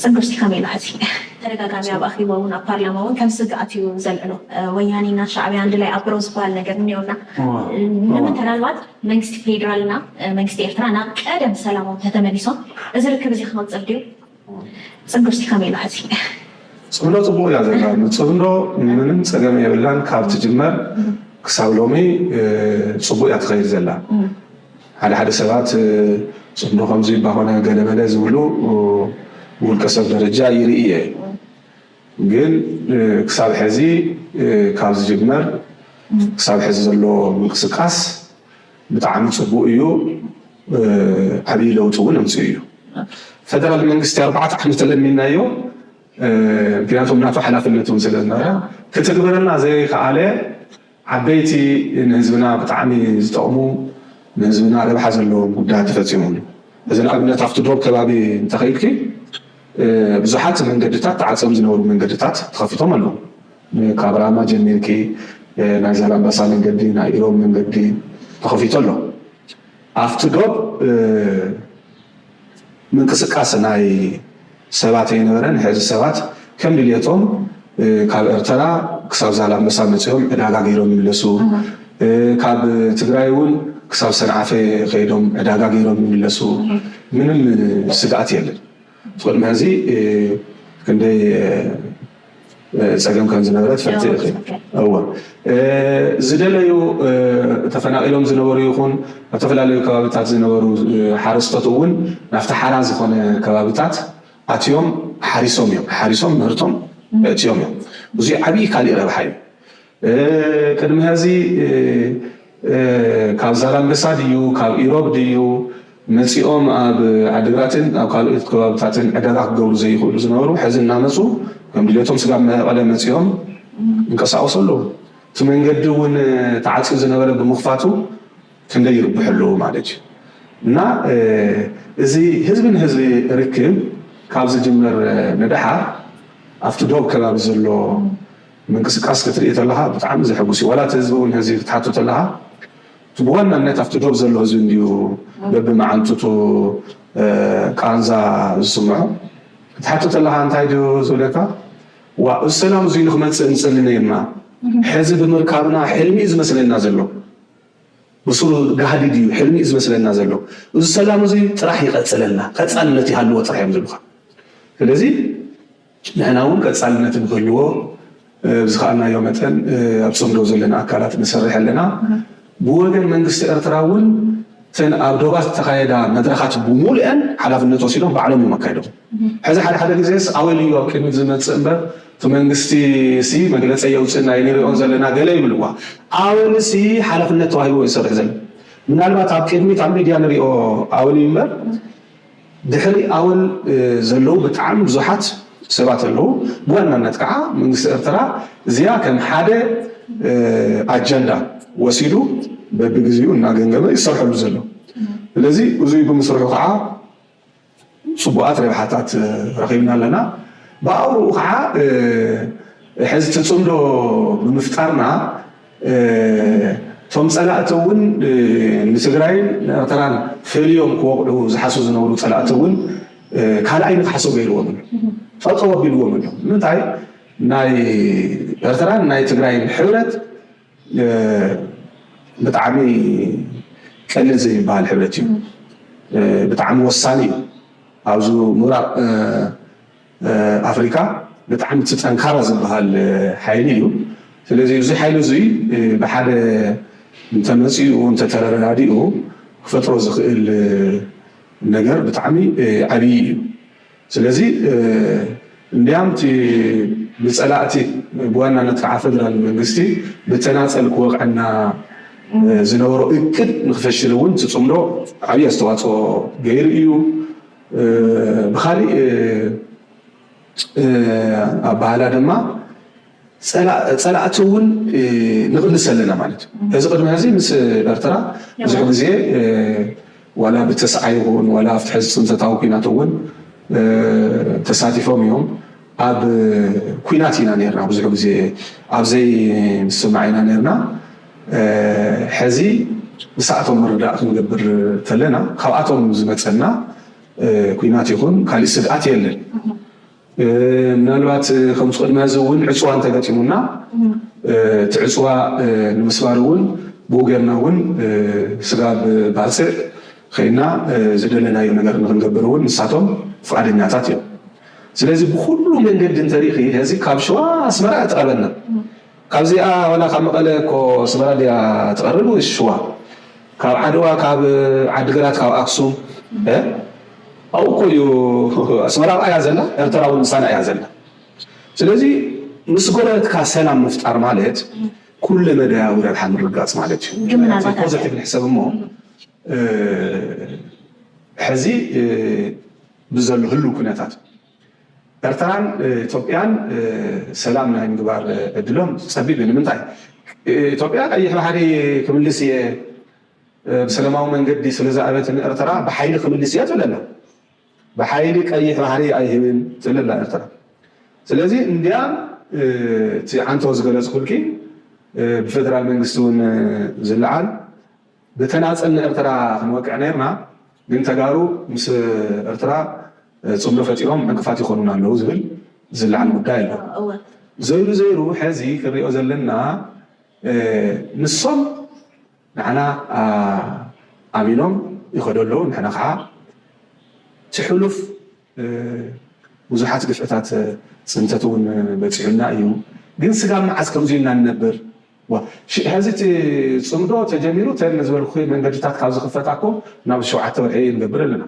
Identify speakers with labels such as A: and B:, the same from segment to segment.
A: ጽግብሲ ከመይ ኢሉ ሐዚ ተደጋጋሚ ኣብ ኣኼባ ውን ኣብ ፓርላማ ውን ከም ስግኣት እዩ ዘልዕሎ ወያኔ እና ሻዕብያ ኣንድ ላይ ኣብሮ ዝባሃል ነገር እኒኦ እና ምናልባት መንግስቲ ፌድራል እና መንግስቲ ኤርትራ ናብ ቀደም ሰላሞም ተተመሊሶም እዚ ርክብ እዚ ክቅጽል ድዩ ጽግብሲ ከመይ ኢሉ ሐዚ ጽምዶ
B: ጽቡቅ እያ ዘላ ጽምዶ ምንም ጸገም የብላን ካብ ትጅመር ክሳብ ሎሚ ጽቡቅ እያ ትከይድ ዘላ። ሓደ ሓደ ሰባት ጽምዶ ከምዚ እባ ኮነ ገለ መለ ዝብሉ ብውልቀ ሰብ ደረጃ ይርኢ እየ ግን ክሳብ ሐዚ ካብ ዝጅመር ክሳብ ሐዚ ዘሎ ምንቅስቃስ ብጣዕሚ ጽቡቅ እዩ ዓብይ ለውጢ እውን ኣምጺኡ እዩ ፈደራል መንግስቲ ኣርባዕተ ዓመት ተለሚንናዮ ምክንያቱ ናቱ ሓላፍነት እውን ስለዝነበረ ክትግብረልና ዘይከኣለ ዓበይቲ ንህዝብና ብጣዕሚ ዝጠቕሙ ንህዝብና ረብሓ ዘለዎም ጉዳያት ተፈፂሞም እዮም። ሕዚ ንኣብነት ኣብቲ ዶብ ከባቢ እንተኸይድኪ ብዙሓት መንገድታት ተዓፅዮም ዝነበሩ መንገድታት ተኸፊቶም ኣለዉ። ካብ ራማ ጀሚርኪ ናይ ዛላምበሳ መንገዲ፣ ናይ ኢሮብ መንገዲ ተኸፊቱ ኣሎ። ኣብቲ ዶብ ምንቅስቃስ ናይ ሰባት ኣይነበረን ሕዚ ሰባት ከም ድልየቶም ካብ ኤርተራ ክሳብ ዛላምበሳ መጺኦም ዕዳጋ ገይሮም ይምለሱ ካብ ትግራይ ውን ክሳብ ሰንዓፈ ከይዶም ዕዳጋ ገይሮም ይምለሱ ምንም ስግኣት የለን ቕድሚ ሕዚ ክንደይ ፀገም ከምዝነበረ ትፈልጢ ኢኺ እወ ዝደለዩ ተፈናቒሎም ዝነበሩ ይኹን ኣብ ዝተፈላለዩ ከባቢታት ዝነበሩ ሓረስቶት እውን ናብቲ ሓራ ዝኾነ ከባቢታት ኣትዮም ሓሪሶም እዮም ሓሪሶም ምህርቶም እትዮም እዮም እዙይ ዓብዪ ካሊእ ረብሓ እዩ ቅድሚ ሀዚ ካብ ዛላምበሳ ድዩ ካብ ኢሮብ ድዩ መፂኦም ኣብ ዓዲግራትን ኣብ ካልኦት ከባብታትን ዕዳጋ ክገብሩ ዘይኽእሉ ዝነበሩ ሐዚ እናመፁ ከም ድሌቶም ስጋብ መቐለ መፂኦም ይንቀሳቐሱ ኣለው። እቲ መንገዲ እውን ተዓፅዩ ዝነበረ ብምኽፋቱ ክንደይ ይርብሑ ኣለው ማለት እዩ። እና እዚ ህዝቢ ንህዝቢ ርክብ ካብ ዝጅመር ንደሓር ኣብቲ ዶብ ከባቢ ዘሎ ምንቅስቃስ ክትርኢ ተለኻ ብጣዕሚ ዘሕጉስ እዩ ዋላ እቲ ህዝቢ ውን ሕዚ ክትሓቶ ተለኻ እቲ ብዋናነት ኣብቲ ዶብ ዘሎ ህዝቢ እንድዩ በብመዓንጥቱ ቃንዛ ዝስምዖ ክትሓቶ ተለኻ እንታይ ድዩ ዝብለካ ዋእ እዚ ሰላም እዙይ ንክመፅእ ንፅሊ ነይርና ሕዚ ብምርካብና ሕልሚ እዩ ዝመስለና ዘሎ ብሱሩ ጋህዲ ድዩ ሕልሚ እዩ ዝመስለና ዘሎ እዚ ሰላም እዙይ ጥራሕ ይቐፅለልና ቀፃልነት ይሃልዎ ጥራሕ እዮም ዝብሉኻ ስለዚ ንሕና እውን ቀፃልነት ንክህልዎ ብዝኸኣልናዮ መጠን ኣብ ፅምዶ ዘለና ኣካላት ንሰርሕ ኣለና። ብወገን መንግስቲ ኤርትራ እውን እተን ኣብ ዶባት ዝተኻየዳ መድረኻት ብሙሉኤን ሓላፍነት ወሲዶም ባዕሎም እዮም ኣካይዶም። ሕዚ ሓደ ሓደ ግዜስ ኣወል እዩ ኣብ ቅድሚት ዝመፅእ እምበር እቲ መንግስቲ ሲ መግለፀ የውፅእ ናይ ንሪኦን ዘለና ገለ ይብልዋ። ኣወል ሲ ሓላፍነት ተዋሂብዎ እዩ ዝሰርሕ ዘሎ። ምናልባት ኣብ ቅድሚት ኣብ ሚድያ ንሪኦ ኣወል እዩ እምበር፣ ድሕሪ ኣወል ዘለዉ ብጣዕሚ ብዙሓት ሰባት ኣለዉ፣ ብዋናነት ከኣ መንግስቲ ኤርትራ እዚኣ ከም ሓደ ኣጀንዳ ወሲዱ በብግዜኡ እናገምገመ እዩ ዝሰርሐሉ ዘሎ። ስለዚ እዙይ ብምስርሑ ከኣ ጽቡቓት ረብሓታት ረኺብና ኣለና። ብኣውርኡ ከኣ ሕዚ እቲ ጽምዶ ብምፍጣርና፣ እቶም ፀላእቲ እውን ንትግራይን ንኤርትራን ፈልዮም ክወቕዑ ዝሓስቡ ዝነበሩ ፀላእቲ እውን ካልኣይ ንክሓስቡ ገይርዎም ኣሎ። ጠጠው ኣቢልዎም ኣሎ። ንምንታይ ናይ ኤርትራን ናይ ትግራይን ሕብረት ብጣዕሚ ቀሊል ዘይበሃል ሕብረት እዩ። ብጣዕሚ ወሳኒ እዩ። ኣብዚ ምብራቕ ኣፍሪቃ ብጣዕሚ እቲ ጠንካራ ዝበሃል ሓይሊ እዩ። ስለዚ እዚ ሓይሊ እዙይ ብሓደ እንተመፂኡ እንተተረዳዲኡ ክፈጥሮ ዝኽእል ነገር ብጣዕሚ ዓብዪ እዩ። ስለዚ እንድያም እቲ ብፀላእቲ ብዋናነት ከዓ ፌደራል መንግስቲ ብተናፀል ክወቕዐና ዝነበሮ እቅድ ንክፈሽል እውን እቲ ፅምዶ ዓብዪ ኣስተዋፅኦ ገይሩ እዩ። ብኻሊእ ኣባህላ ድማ ጸላእቲ እውን ንቕንሰ ኣለና ማለት እዩ። እዚ ቅድሚ ሕዚ ምስ ኤርትራ ብዙሕ ግዜ ዋላ ብተስዓይ ይኹን ዋላ ኣብቲ ሕዚ ጽንተታዊ ኩናት እውን ተሳቲፎም እዮም። ኣብ ኩናት ኢና ነርና ብዙሕ ግዜ ኣብዘይ ምስማዕ ኢና ነርና። ሐዚ ንሳኣቶም ምርዳእ ክንገብር ተለና ካብኣቶም ዝመፀና ኩናት ይኹን ካሊእ ስግኣት የለን ምናልባት ከምዚ ቅድሚ ሐዚ እውን ዕፅዋ እንተገጢሙና እቲ ዕፅዋ ንምስባር እውን ብኡ ገርና እውን ስጋብ ባፅዕ ከይና ዝደለናዮ ነገር ንክንገብር እውን ንሳቶም ፍቓደኛታት እዮም ስለዚ ብኹሉ መንገዲ እንተሪእኺ ሐዚ ካብ ሽዋ ኣስመራ እቲ ቀበና ካብዚኣ ዋላ ካብ መቐለ እኮ ኣስመራ ድያ ትቐርብ ወይስ ሽዋ ካብ ዓድዋ ካብ ዓዲ ግራት ካብ ኣክሱም እህ ኣብኡ እኮ እዩ ኣስመራ ኣብኣ እያ ዘላ ኤርትራ እውን ምሳና እያ ዘላ ስለዚ ምስ ጎረበትካ ሰላም ምፍጣር ማለት ኩለ መዳያዊ ረብሓ ምርጋፅ ማለት እዩ ግን ምናልባት ኣብ ፖዘቲቭ ንሕሰብ እሞ ሕዚ ብዘሎ ህልው ኩነታት ኤርትራን ኢትዮጵያን ሰላም ናይ ምግባር ዕድሎም ጸቢብ እዩ። ንምንታይ? ኢትዮጵያ ቀይሕ ባሕሪ ክምልስ እየ ብሰለማዊ መንገዲ ስለ ዝኣበት ንኤርትራ ብሓይሊ ክምልስ እየ ትብል ኣላ። ብሓይሊ ቀይሕ ባሕሪ ኣይህብን ትብል ኣላ ኤርትራ። ስለዚ እንድያ እቲ ዓንተው ዝገለጽኩልኪ ብፈደራል መንግስቲ እውን ዝለዓል ብተናጸል ንኤርትራ ክንወቅዕ ነይርና ግን ተጋሩ ምስ እርትራ ጽምዶ ፈጢሮም ዕንቅፋት ይኾኑና ኣለዉ ዝብል ዝለዓል ጉዳይ ኣሎ ዘይሩ ዘይሩ ሐዚ ክንሪኦ ዘለና ንሶም ንዓና ኣሚኖም ይኸዱ ኣለዉ ንሕና ኸዓ ትሑሉፍ ብዙሓት ግፍዕታት ጽንተት ውን በጺሑና እዩ ግን ስጋብ መዓዝ ከምዚ ኢልና ንነብር ዋእ ሐዚ እቲ ፅምዶ ተጀሚሩ ተን ዝበልኩኺ መንገድታት ካብ ዝኽፈታ እኮ ናብ ሸውዓተ ወርሒ ንገብር ኣለና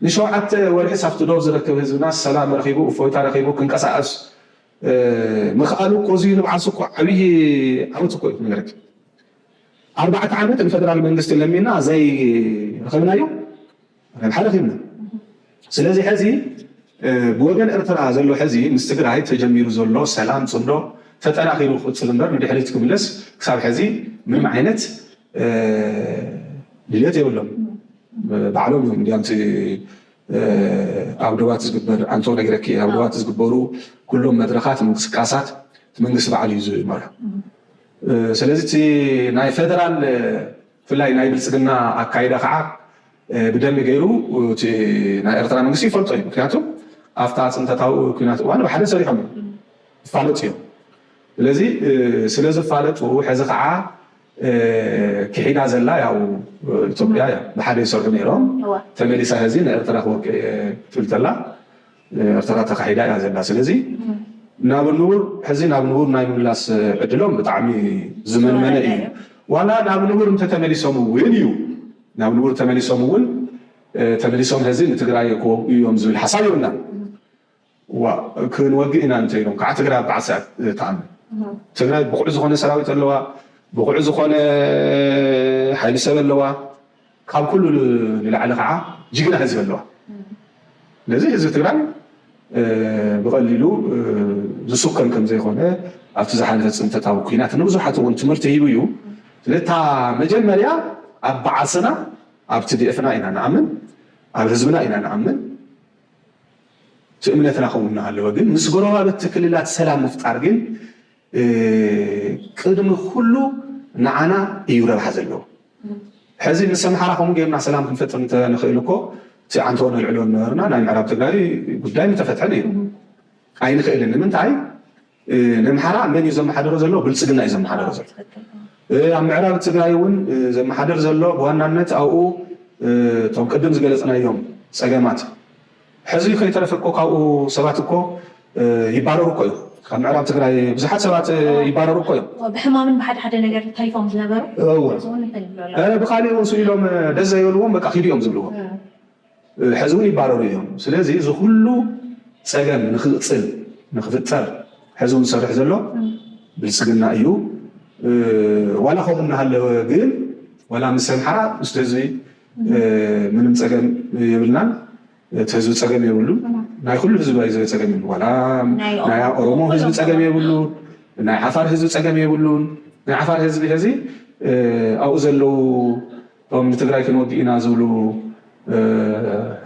B: ንሸውዓተ ወርሒስ ኣብቲ ዶብ ዝረክብ ህዝብናስ ሰላም ረኺቡ እፎይታ ረኺቡ ክንቀሳቀስ ምኽኣሉ እኮ እዙይ ንብዓሱ እኮ ዓብዪ ዓወት እኮ እዩ ክነግረኪ ኣርባዕተ ዓመት ንፈደራል መንግስቲ ለሚና ዘይረኸብናዮ ናይ ብሓደ ኮይንና ስለዚ ሐዚ ብወገን ኤርትራ ዘሎ ሐዚ ምስ ትግራይ ተጀሚሩ ዘሎ ሰላም ፅምዶ ተጠናኺሩ ክቕፅል እምበር ንድሕሪት ክምለስ ክሳብ ሐዚ ምንም ዓይነት ድልየት የብሎም። ባዕሎም እዮም እንዲያም እቲ ኣብ ዶባት ዝግበር ኣንቶ ነግረኪ ኣብ ዶባት ዝግበሩ ኩሎም መድረኻት ምንቅስቃሳት እቲ መንግስቲ ባዕሉ እዩ ዝመርሑ። ስለዚ እቲ ናይ ፌደራል ብፍላይ ናይ ብልፅግና ኣካይዳ ከዓ ብደንቢ ገይሩ እቲ ናይ ኤርትራ መንግስቲ ይፈልጦ እዩ። ምክንያቱ ኣፍታ ፅንተታዊ ኩናት እዋን ብሓደ ሰሪሖም እዮም ይፋለጡ እዮም። ስለዚ ስለዝፋለጡ ሕዚ ከዓ ክሒዳ ዘላ ያው ኢትዮጵያ እያ። ብሓደ ይሰርሑ ነይሮም ተመሊሳ ሕዚ ንኤርትራ ክወቅዕ እየ ትብል ተላ። ኤርትራ ተካሒዳ እያ ዘላ ስለዚ ናብ ንቡር ሕዚ ናብ ንቡር ናይ ምምላስ ዕድሎም ብጣዕሚ ዝመንመነ እዩ ዋላ ናብ ንቡር እንተተመሊሶም እውን እዩ ናብ ንቡር ተመሊሶም እውን ተመሊሶም ሕዚ ንትግራይ ክወግኡ እዮም ዝብል ሓሳብ የብልናን ዋእ ክንወግእ ኢና እንተኢሎም ከዓ ትግራይ ኣብ በዓልሲ እያ ትኣምን ትግራይ ብቑዕ ዝኾነ ሰራዊት ኣለዋ ብቑዕ ዝኾነ ሓይሊ ሰብ ኣለዋ ካብ ኩሉ ንላዕሊ ከዓ ጅግና ህዝቢ ኣለዋ። ስለዚ ህዝቢ ትግራይ ብቐሊሉ ዝሱከም ከምዘይኾነ ኣብቲ ዝሓለፈ ፅንተታዊ ኩናት ንብዙሓት እውን ትምህርቲ ሂቡ እዩ። ስለዚ እታ መጀመርያ ኣብ ባዓስና ኣብ ትዲኤፍና ኢና ንኣምን፣ ኣብ ህዝብና ኢና ንኣምን፣ እቲ እምነትና ከምኡ እናሃለወ ግን ምስ ጎረባብቲ ክልላት ሰላም ምፍጣር ግን ቅድሚ ኩሉ ንዓና እዩ ረብሓ ዘለዎ። ሕዚ ምስ ኣምሓራ ከምኡ ጌርና ሰላም ክንፈጥር እንተንኽእል እኮ እቲ ዓንተቦ ነልዕሎ ነበርና፣ ናይ ምዕራብ ትግራይ ጉዳይ ምተፈትሐ ነይሩ። ኣይንኽእልን ንምንታይ ነምሓራ መን እዩ ዘመሓደሮ ዘሎ ብልፅግና እዩ ዘመሓደሮ ዘሎ ኣብ ምዕራብ ትግራይ እውን ዘመሓደር ዘሎ ብዋናነት ኣብኡ እቶም ቅድም ዝገለፅናዮም ፀገማት ሕዚ ከይተረፈ እኮ ካብኡ ሰባት እኮ ይባረሩ እኮ እዮም ካብ ምዕራብ ትግራይ ብዙሓት ሰባት ይባረሩ እኮ እዮም። እወ ብሕማምን ብሓደ ሓደ
A: ነገር ተሪፎም ዝነበሩ እወ ሕዚ እውን እንትን ይብሉ ኣለዉ።
B: ኧረ ብካሊእ እውን ስእ ኢሎም ደስ ዘይበልዎም በቃ ኪዱ እዮም ዝብልዎም ሕዚ እውን ይባረሩ እዮም። ስለዚ እዚ ኩሉ ፀገም ንክቅፅል ንክፍጠር ሕዚ እውን ዝሰርሕ ዘሎ ብልፅግና እዩ። ዋላ ከምኡ እናሃለወ ግን ዋላ ምስ ኣምሓራ ምስቲ ህዝቢ ምንም ፀገም የብልናን እቲ ህዝቢ ፀገም የብሉን ናይ ኩሉ ህዝቢ ባይዘ ፀገም የብሉ ዋላ ናይ ኦሮሞ ህዝቢ ፀገም የብሉን ናይ ዓፋር ህዝቢ ፀገም የብሉን ናይ ዓፋር ህዝቢ ሕዚ ኣብኡ ዘለዉ እቶም ንትግራይ ክንወግእ ኢና ዝብሉ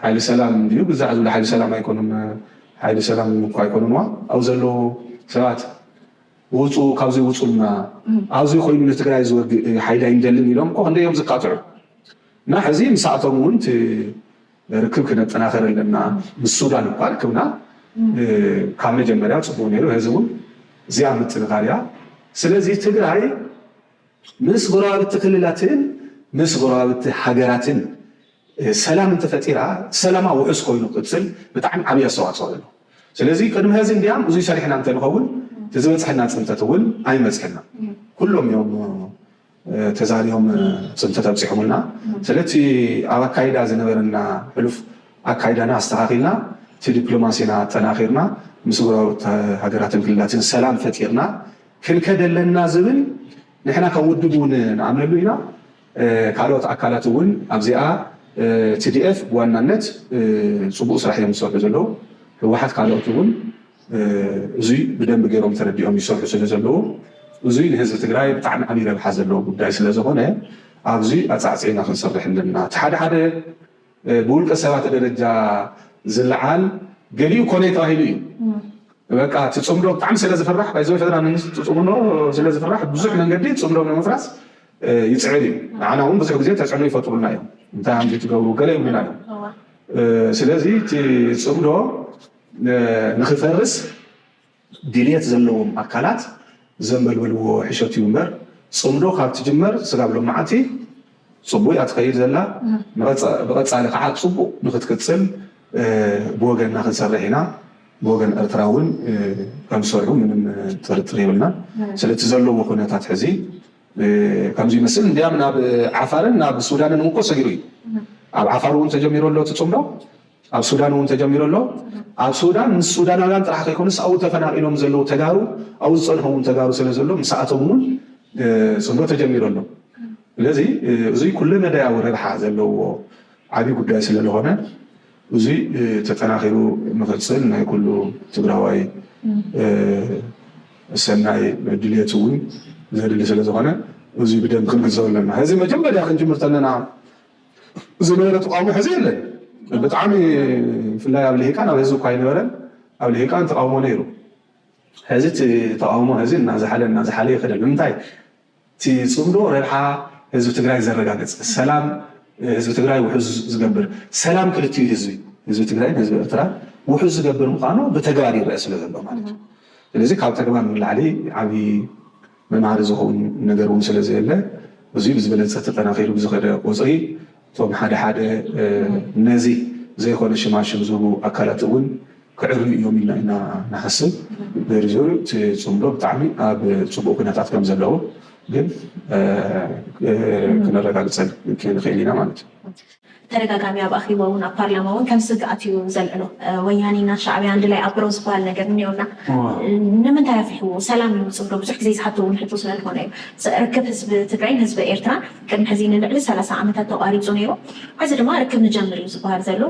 B: ሓይሊ ሰላም እንድዩ ግዛዕ ዝብሉ ሓይሊ ሰላም ኣይኮኑን ሓይሊ ሰላም እኳ ኣይኮኑንዋ ኣብኡ ዘለዉ ሰባት ውፁ ካብዙይ ውፁልና ኣብዙይ ኮይኑ ንትግራይ ዝወግእ ሓይሊ ኣይንደልን ኢሎም እኮ ክንደይ እዮም ዝቃጥዑ እና ሕዚ ምሳእቶም እውን እቲ ርክብ ክነጠናኸር ኣለና ምስ ሱዳን እኳ ርክብና ካብ መጀመርያ ፅቡቅ ነይሩ ሕዚ እውን እዚኣ ምጥንኻር እያ ስለዚ ትግራይ ምስ ጎረባብቲ ክልላትን ምስ ጎረባብቲ ሃገራትን ሰላም እንተፈጢራ ሰላማ ውሑስ ኮይኑ ክቅፅል ብጣዕሚ ዓብይ ኣስተዋፅኦ ኣለዎ። ስለዚ ቅድሚ ሀዚ እንድያም እዙይ ሰሪሕና እንተንኸውን እቲ ዝበፅሐና ፅንተት እውን ኣይመፅሐናን። ኩሎም እዮም ተዛርዮም ፅንተት ኣብፂሖምልና። ስለ እቲ ኣብ ኣካይዳ ዝነበረና ሕሉፍ ኣካይዳና ኣስተኻኺልና እቲ ዲፕሎማሲና ኣጠናኺርና ምስ ጎረባብቲ ሃገራትን ክልላትን ሰላም ፈጢርና ክንከድ ኣለና ዝብል ንሕና ከም ውድብ እውን ንኣምነሉ ኢና። ካልኦት ኣካላት እውን ኣብዚኣ ትዲኤፍ ብዋናነት ፅቡቅ ስራሕ እዮም ዝሰርሑ ዘለዉ ህወሓት ካልኦት እውን እዙይ ብደንቢ ገይሮም ተረዲኦም ይሰርሑ ስለ ዘለዉ እዙይ ንህዝቢ ትግራይ ብጣዕሚ ዓብይ ረብሓ ዘለዎ ጉዳይ ስለ ዝኾነ ኣብዙይ ኣፃዕፂዕና ክንሰርሕ ኣለና እቲ ሓደ ሓደ ብውልቀ ሰባት ደረጃ ዝልዓል ገሊኡ ኮነይ ተባሂሉ እዩ በቃ እቲ ፅምዶ ብጣዕሚ ስለ ዝፍራሕ ባይዘወይ ፈተና መንግስቲ ፅምዶ ስለ ዝፍራሕ ብዙሕ መንገዲ ፅምዶ ንምፍራስ ይፅዕር እዩ ንዓና እውን ብዙሕ ግዜ ተፅዕኖ ይፈጥሩልና እዮም እንታይ ሃምዚ ትገብሩ ገለ ይብሉና እዮም ስለዚ እቲ ፅምዶ ንክፈርስ ድልየት ዘለዎም ኣካላት ዘንበልበልዎ ሕሸት እዩ እምበር ፅምዶ ካብ ትጅመር ስጋብ ሎማዓንቲ ፅቡቅ እያ ትኸይድ ዘላ ብቀፃሊ ካዓ ፅቡቅ ንክትቅፅል ብወገንና ክንሰርሕ ኢና ብወገን ኤርትራ እውን ከምዝሰርሑ ምንም ጥርጥር የብልናን ስለ እቲ ዘለዎ ኩነታት ሕዚ ከምዚ ይመስል እንድያም ናብ ዓፋርን ናብ ሱዳንን እውን እኮ ሰጊሩ እዩ ኣብ ዓፋር እውን ተጀሚሩ ኣሎ እቲ ፅምዶ ኣብ ሱዳን እውን ተጀሚሩ ኣሎ። ኣብ ሱዳን ምስ ሱዳናውያን ጥራሕ ከይኮነስ ኣብኡ ተፈናቒሎም ዘለዉ ተጋሩ ኣብኡ ዝፀንሑ እውን ተጋሩ ስለዘሎ ምሳኣቶም እውን ፅምዶ ተጀሚሩ ኣሎ። ስለዚ እዙይ ኩለመዳያዊ ረብሓ ዘለዎ ዓብዪ ጉዳይ ስለልኾነ እዙይ ተጠናኺሩ ንኽፅል ናይ ኩሉ ትግራዋይ ሰናይ ድልየት እውን ዘድሊ ስለዝኾነ እዙይ ብደንቢ ክንግንዘቦ ኣለና። ሕዚ መጀመርያ ክንጅምር ተለና ዝነበረ ተቓውሞ ሕዚ የለን ብጣዕሚ ብፍላይ ኣብ ልሂቃን ኣብ ህዝቢ እኳ ኣይነበረን ኣብ ልሂቃን ተቓውሞ ነይሩ ሕዚ እቲ ተቓውሞ ሕዚ እናዝሓለ እናዝሓለ ይኸደ ንምንታይ እቲ ፅምዶ ረብሓ ህዝቢ ትግራይ ዘረጋግፅ ሰላም ህዝቢ ትግራይ ውሕዝ ዝገብር ሰላም ክልቲኡ ህዝቢ ህዝቢ ትግራይን ህዝቢ ኤርትራን ውሕዝ ዝገብር ምዃኑ ብተግባር ይረአ ስለ ዘሎ ማለት እዩ ስለዚ ካብ ተግባር ንላዕሊ ዓብዪ መምሃሪ ዝኸውን ነገር እውን ስለ ዘየለ፣ እዙይ ብዝበለፀ ተጠናኺሩ ብዝኸደ ቁፅሪ እቶም ሓደ ሓደ ነዚ ዘይኾነ ሽማሽም ዝህቡ ኣካላት እውን ክዕርዩ እዮም ኢልና ኢና ንሓስብ። ዝርዝር እቲ ፅምዶ ብጣዕሚ ኣብ ፅቡቕ ኩነታት ከም ዘለዉ ግን ክነረጋግፀልክ ንኽእል ኢና ማለት እዩ። ተደጋጋሚ ኣብ
A: ኣኺቦ ውን ኣብ ፓርላማ ውን ከም ስግኣት እዩ ዘልዕሎ ወያኒ እና ሻዕብያ ኣንድላይ ኣብሮ ዝባሃል ነገር እኒኦ እና ንምንታይ ኣፍርሕዎ ሰላም ይምፅእ ዶ ብዙሕ ግዜ ዝሓቶ ውን ሕቶ ስለ ልኾነ እዩ ርክብ ህዝቢ ትግራይን ህዝቢ ኤርትራን ቅድሚ ሕዚ ንልዕሊ ሰላሳ ዓመታት ተቋሪፁ ነይሩ ሕዚ ድማ ርክብ ንጀምር እዩ ዝባሃል ዘሎ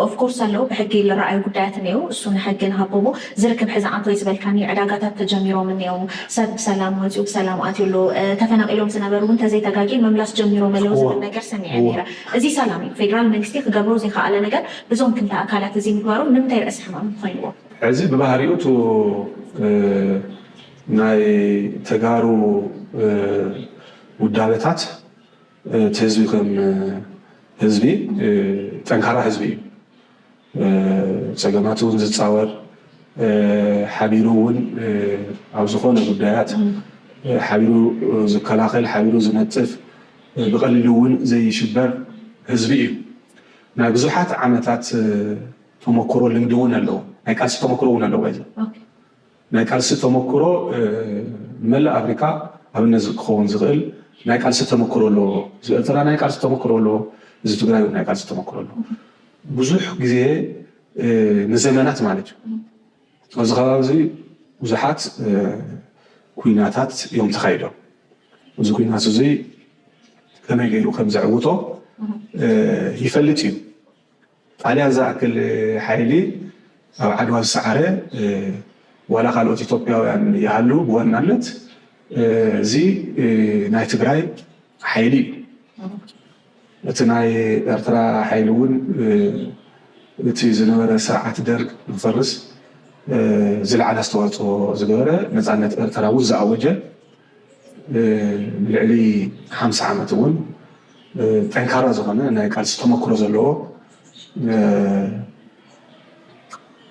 A: ኦፍኮርስ ኣለዉ ብሕጊ ልራኣዩ ጉዳያት እኒኤው እሱ ንሕጊ ንሃቦ እሞ ዝርክብ ሕዚ ኣንቶይ ዝበልካኒ ዕዳጋታት ተጀሚሮም እኔዉ ሰብ ብሰላም ወፂኡ ብሰላም ኣትዩ ኣሎ ተፈናቂሎም ዝነበሩ እዉን ተዘይ ተጋጌ ምምላስ ጀሚሮም ኣለዉ ዝብል ነገር ሰሚዐ ነይረ እዙይ ሰላም እዩ ፌዴራል መንግስቲ ክገብሮ ዘይኸኣለ ነገር ብዞም ክልተ ኣካላት እዙይ ምግባሮም ንምንታይ ርእሲ ሕማም ኾይንዎ ሕዚ ብባህሪኡ
B: እቱ ናይ ተጋሩ ዉዳበታት እቲ ህዝቢ ከም ህዝቢ ጠንካራ ህዝቢ እዩ ፀገማት እውን ዝፃወር ሓቢሩ እውን ኣብ ዝኾነ ጉዳያት ሓቢሩ ዝከላኸል ሓቢሩ ዝነጥፍ ብቐሊሉ እውን ዘይሽበር ህዝቢ እዩ። ናይ ብዙሓት ዓመታት ተሞክሮ ልምዲ እውን ኣለዎ ናይ ቃልሲ ተሞክሮ እውን ኣለዎ። ናይ ቃልሲ ተመኩሮ ንመላእ ኣፍሪካ ኣብነት ክኸውን ዝኽእል ናይ ቃልሲ ተመኩሮ ኣለዎ። ህዝቢ ኤርትራ ናይ ቃልሲ ተመኩሮ ኣለዎ። ህዝቢ ትግራይ እውን ናይ ቃልሲ ተመኩሮ ኣለዎ። ብዙሕ ግዜ ንዘመናት ማለት እዩ ኣብዚ ከባቢ እዚ ብዙሓት ኩናታት እዮም ተኻይዶም። እዚ ኩናት እዙይ ከመይ ገይሩ ከምዘዕውቶ ይፈልጥ እዩ። ጣልያን ዝኣክል ሓይሊ ኣብ ዓድዋ ዝሰዓረ ዋላ ካልኦት ኢትዮጵያውያን ይሃልው ብዋናነት እዚ ናይ ትግራይ ሓይሊ እዩ። እቲ ናይ ኤርትራ ሓይሊ እውን እቲ ዝነበረ ስርዓት ደርግ ንክፈርስ ዝለዓለ ኣስተዋፅኦ ዝገበረ ነፃነት ኤርትራ እውን ዝኣወጀ ልዕሊ ሓምሳ ዓመት እውን ጠንካራ ዝኾነ ናይ ቃልሲ ተመክሮ ዘለዎ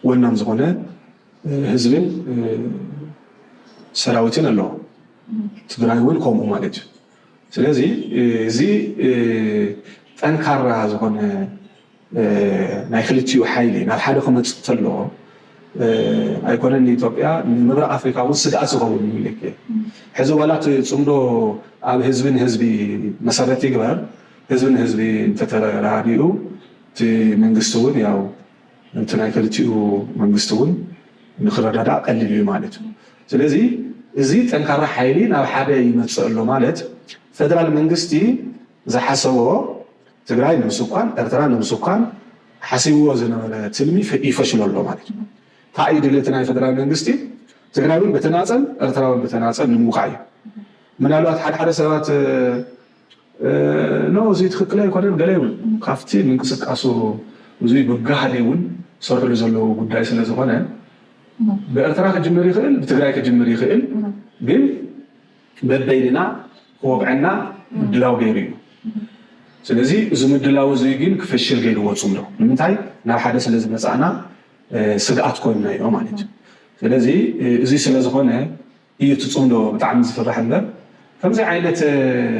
B: ወናም ዝኾነ ህዝብን ሰራዊትን ኣለዎ። ትግራይ እውን ከምኡ ማለት እዩ። ስለዚ እዚ ጠንካራ ዝኾነ ናይ ክልቲኡ ሓይሊ ናብ ሓደ ክመጽእ ተሎ ኣይኮነን ንኢትዮጵያ ንምብራቅ ኣፍሪካ ውን ስግኣት ዝኸውን ምኒሊክ ሕዚ ዋላ እቲ ጽምዶ ኣብ ህዝቢ ንህዝቢ መሰረት ይግበር ህዝቢ ንህዝቢ እንተተረዳዲኡ እቲ መንግስቲ ውን ያው እቲ ናይ ክልቲኡ መንግስቲ ውን ንክረዳዳእ ቀሊል ኢዩ ማለት ኢዩ ስለዚ እዚ ጠንካራ ሓይሊ ናብ ሓደ ይመጽእ ኣሎ ማለት ፈደራል መንግስቲ ዝሓሰቦ ትግራይ ንምስኳን፣ ኤርትራ ንምስኳን ሓሲብዎ ዝነበረ ትልሚ ይፈሽሎ ኣሎ ማለት እዩ። ታይ እዩ ድልየቲ ናይ ፈደራል መንግስቲ? ትግራይ እውን ብተናፀል ኤርትራ እውን ብተናፀል ንምውቃዕ እዩ። ምናልባት ሓደ ሓደ ሰባት ኖ እዙይ ትኽክል ኣይኮነን ገለ ይብሉ። ካብቲ ምንቅስቃሱ እዙይ ብጋህዲ እውን ዝሰርሕሉ ዘለዉ ጉዳይ ስለዝኾነ ብኤርትራ ክጅምር ይኽእል ብትግራይ ክጅምር ይኽእል ግን በበይንና ክወግዐና ምድላው ገይሩ እዩ። ስለዚ እዚ ምድላው እዚ ግን ክፈሽል ገይርዎ ፅምዶ። ንምንታይ? ናብ ሓደ ስለ ዝመፃእና ስግኣት ኮይንናዮ ማለት እዩ። ስለዚ እዚ ስለ ዝኾነ እዩ እቲ ፅምዶ ብጣዕሚ ዝፍራሕ እምበር ከምዚ ዓይነት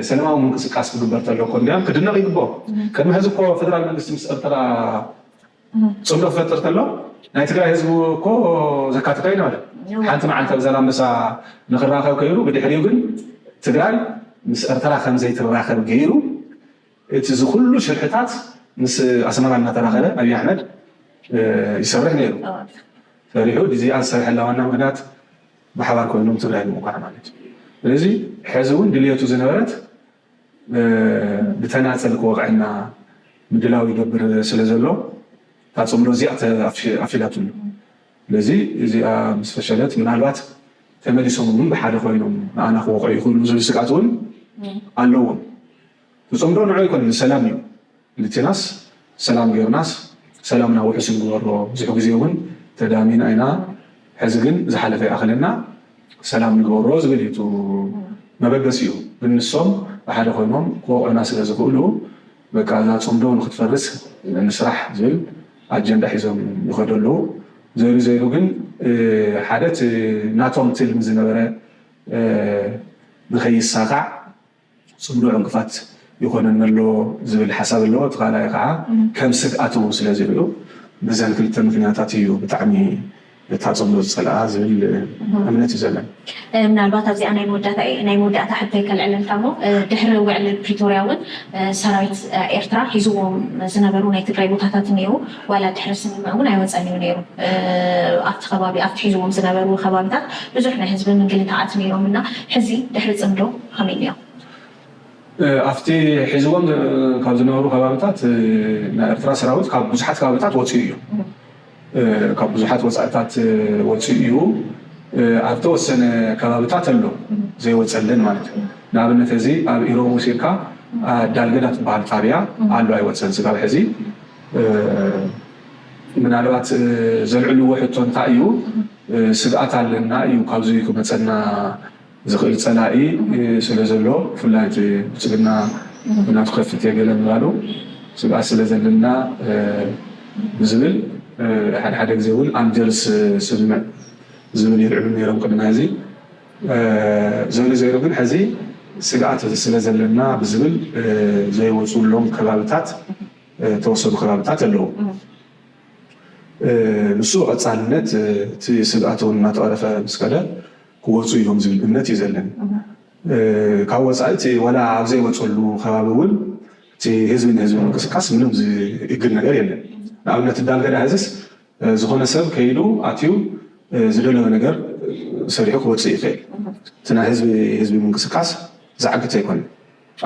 B: ሰለማዊ ምንቅስቃስ ክግበር ተሎ እኮ እንድያም ክድነቕ ይግበኦ። ቅድሚ ሕዚ እኮ ፌደራል መንግስቲ ምስ ኤርትራ ፅምዶ ክፈጥር ተሎ ናይ ትግራይ ህዝቢ እኮ ዘካትቶ ኣይነበረን። ሓንቲ መዓልቲ ኣብ ዛላምበሳ ንክራኸብ ከይሩ ብድሕሪኡ ግን ትግራይ ምስ ኤርትራ ከምዘይትራኸብ ገይሩ እቲ ዝኩሉ ሽርሕታት ምስ ኣስመራ እናተራኸበ ኣብይ ኣሕመድ ይሰርሕ ነይሩ። ፈሪሑ እዚኣ ዝሰርሐላ ዋና ምክንያት ብሓባር ኮይኖም ትግራይ ንምውቃዕ ማለት እዩ። ስለዚ ሕዚ እውን ድልየቱ ዝነበረት ብተናጸል ክወቕዐና ምድላው ይገብር ስለ ዘሎ እታ ጽምዶ እዚኣ ተኣፊላትሉ። ስለዚ እዚኣ ምስ ፈሸለት ምናልባት ተመሊሶም እውን ብሓደ ኮይኖም ንኣና ክወቕዑ ይኽእሉ ዝብል ስግኣት እውን ኣለዎም። እቲ ጽምዶ ንዑ ኣይኮነን ንሰላም እዩ። ክልቴናስ ሰላም ጌርናስ ሰላምና ውሑስ ንግበሮ ብዙሕ ግዜ ውን ተዳሚና ኢና ሕዚ ግን ዝሓለፈ ይኣኽለና ሰላም ንግበሮ ዝብል እዩ እቱ መበገሲኡ ግን ንሶም ብሓደ ኮይኖም ክወቕዑና ስለ ዝኽእሉ በቃ እዛ ፅምዶ ንኽትፈርስ ንስራሕ ዝብል ኣጀንዳ ሒዞም ይኸዱ ኣለዉ ዘይሉ ዘይሉ ግን ሓደ እቲ ናቶም ትልሚ ዝነበረ ንከይሳኻዕ ጽምዶ ዕንቅፋት ይኾነኒ ኣሎ ዝብል ሓሳብ ኣለዎ። እቲ ካልኣይ ከኣ ከም ስግኣት እውን ስለ ዝርእዩ በዘን ክልተ ምኽንያታት እዩ ብጣዕሚ እታ ጽምዶ ዝጸልኣ ዝብል እምነት እዩ ዘለኒ። ምናልባት ኣብዚኣ
A: ናይ መወዳእታ እየ ናይ መወዳእታ ሕቶይ ከልዕለልካ እሞ ድሕሪ ውዕሊ ፕሪቶርያ እውን ሰራዊት ኤርትራ ሒዝዎም ዝነበሩ ናይ ትግራይ ቦታታት እኒኤዉ ዋላ ድሕሪ ስምምዕ እውን ኣይወጸን እዩ ነይሩ ኣብቲ ከባቢ ኣብቲ ሒዝዎም ዝነበሩ ከባቢታት ብዙሕ ናይ ህዝቢ ምንግልታዓት ነይሮም እና ሕዚ ድሕሪ ጽምዶ ከመይ እዮም?
B: ኣብቲ ሒዝዎም ካብ ዝነበሩ ከባብታት ናይ ኤርትራ ሰራዊት ካብ ብዙሓት ከባብታት ወፂኡ እዩ። ካብ ብዙሓት ወፃእታት ወፂኡ እዩ። ኣብ ተወሰነ ከባብታት ኣሎ ዘይወፀለን ማለት እዩ። ንኣብነት ሕዚ ኣብ ኢሮብ ወሲድካ ዳልገዳ ትበሃል ጣብያ ኣሎ ኣይወፀን ስጋብ ሕዚ። ምናልባት ዘልዕልዎ ሕቶ እንታይ እዩ ስግኣት ኣለና እዩ ካብዙይ ክመፀና ዝኽእል ፀላኢ ስለ ዘሎ ብፍላይ እቲ ብልፅግና ኩናቱ ከፍት እየ ገለ ምባሉ ስግኣት ስለ ዘለና ብዝብል ሓደ ሓደ ግዜ እውን ኣልጀርስ ስምምዕ ዝብል ይልዕሉ ነይሮም ቅድሚ ሐዚ ዞይሩ ዞይሩ ግን ሐዚ ስግኣት ስለ ዘለና ብዝብል ዘይወፅኡሎም ከባብታት ዝተወሰኑ ከባብታት ኣለው። ንሱ ብቐፃልነት እቲ ስግኣት እውን እናተቐረፈ ምስ ከደ ክወፁ እዮም ዝብል እምነት እዩ ዘለኒ። ካብ ወፃኢ እቲ ዋላ ኣብ ዘይወፀሉ ከባቢ እውን እቲ ህዝቢ ንህዝቢ ምንቅስቃስ ምንም ዝእግድ ነገር የለን። ንኣብነት እንዳልገዳ ሕዝስ ዝኾነ ሰብ ከይዱ ኣትዩ ዝደለዮ ነገር ሰሪሑ ክወፅእ ይኽእል። እቲ ናይ ህዝቢ ህዝቢ ምንቅስቃስ ዝዓግት ኣይኮነን።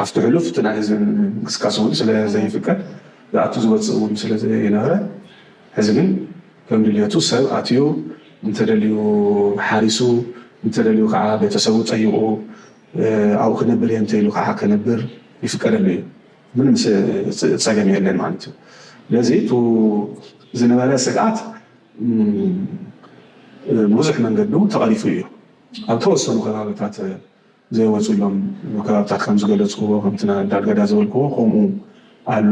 B: ኣብቲ ሕሉፍ እቲ ናይ ህዝቢ ምንቅስቃስ እውን ስለ ዘይፍቀድ ዝኣቱ ዝወፅእ እውን ስለ ዘይነበረ ሕዚ ግን ከም ድልየቱ ሰብ ኣትዩ እንተደልዩ ሓሪሱ እንተደልዩ ከዓ ቤተሰቡ ጠይቑ ኣብኡ ክነብር እየ እንተኢሉ ከዓ ከነብር ይፍቀደሉ እዩ ምንም ፀገም የለን ማለት እዩ ስለዚ እቱ ዝነበረ ስግኣት ብብዙሕ መንገዱ ተቐሪፉ እዩ ኣብ ተወሰኑ ከባብታት ዘይወጽእሎም ከባብታት ከም ዝገለጽክዎ ከምቲ ዳርጋዳ ዝበልክዎ ከምኡ ኣሎ።